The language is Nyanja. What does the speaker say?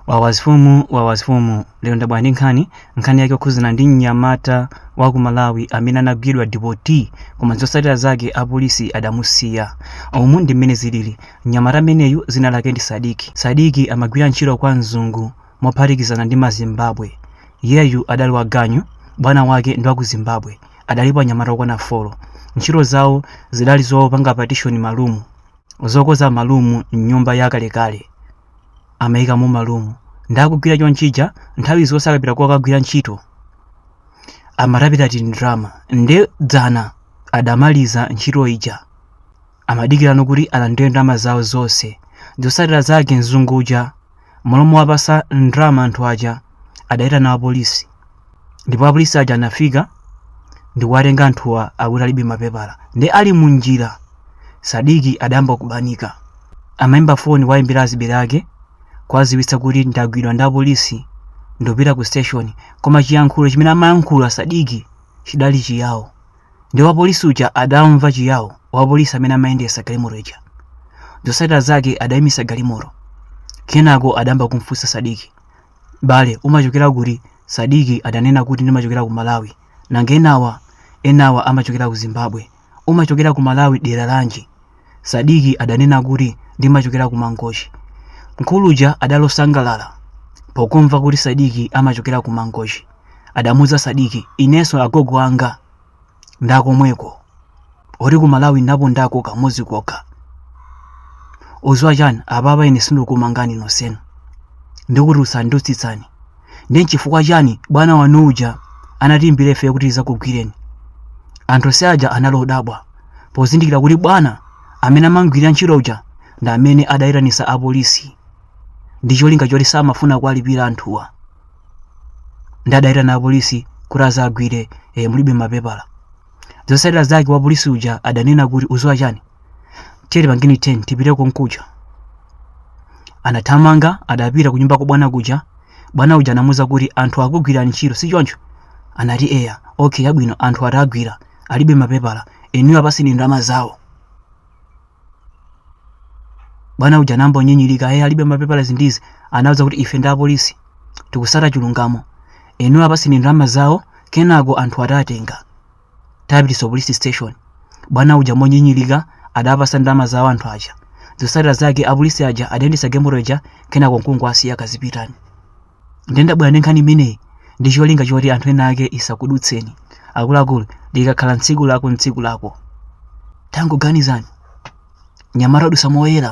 Wawas Fumu Wawas Fumu lero ndabwera ndi nkhani nkhani yake yokhuzana ndi mnyamata wa ku Malawi amene anagwidwa dipoti koma zotsatira zake apolisi adamusiya umu ndi mmene zilili mnyamata ameneyu dzina lake ndi Sadiki Sadiki amagwira ntchito kwa mzungu mophatikizana ndi mazimbabwe iyeyu adali wa ganyu bwana wake ndi wa ku Zimbabwe adalipo anyamata okwana folo ntchito zawo zidali zopanga patishoni malumu zokoza malumu m'nyumba yakalekale amaika mumalumu nde akugwira chonchija nthawi zonse akapita kukagwira ntchito amatapitatu ndrama nde dzana adamaliza ntchito ija amadikirano kuti alandire ndalama zawo zonse zotsatira zake mzungu uja m'malo mowapasa ndrama anthu aja adaitana apolisi ndipo apolisi aja anafika ndikuwatenga anthuwa akuti alibe mapepala nde ali mu njira sadiki adayamba kubanika amayimba foni kuwayimbira azibale ake kuwaziwitsa kuti ndagwidwa ndi apolisi ndopita ku station koma chiyankhulo chimene amayankhula sadiki chidali chiyawo nde wapolisi uja adamva chiyawo wapolisi amene amayendesa galimoto ija zotsatira zake adayimisa galimoto kenako adayamba kumfunsa sadiki m'bale umachokera kuti? Sadiki adanena kuti ndimachokera ku Malawi. Nanga enawa? Enawa amachokera ku Zimbabwe. Umachokera ku Malawi dera lanji? Sadiki adanena kuti ndimachokera ku Mangochi. Mkulu uja adali osangalala pokumva kuti Sadiki amachokera ku Mangochi. Adamuuza Sadiki, inenso agogo anga ndakomweko olo kuti malawi ndapondako kamodzi kokha uziwa chani apapa ine sindikumangani nonsenu ndikutulutsani ndikutsitsani nde nchifukwa chani bwana wanu uja anatiimbira ife kuti tizakugwireni anthu onse aja anali odabwa pozindikira kuti bwana amene amamgwirira ntchito uja ndi amene adayitanisa apolisi ndi cholinga choti samafuna kuwalipira anthuwa nde adaitana apolisi kuti azawagwire e, mulibe mapepala zosatira zake wa polisi uja adanena kuti uziwa chani tiye tipange U-turn tipite konkuja anathamanga adapita kunyumba kwa bwana kuja bwana uja anamuza kuti anthu akugwira ntchito si choncho anati eya okay yabwino anthu tawagwira alibe mapepala inuyo apaseni ndalama zawo bwana uja anayamba kunyinyirika ayi alibe mapepala izi ndi izi anawauza kuti ife ndi apolisi tikusata chilungamo inuyo apaseni ndalama zawo kenako anthu tiwatenga tipitaso police station bwana uja monyinyirika adawapasa ndalama zawo anthu aja zotsatira zake apolisi aja adayendetsa galimoto ija kenako nkungowasiya kazipitani ndiye ndabwera ndi nkhani imeneyi ndi cholinga choti anthu ena ake isakudutseni akuluakulu likakhala tsiku lako ntsiku lako tangoganizani anyamata adusa moyera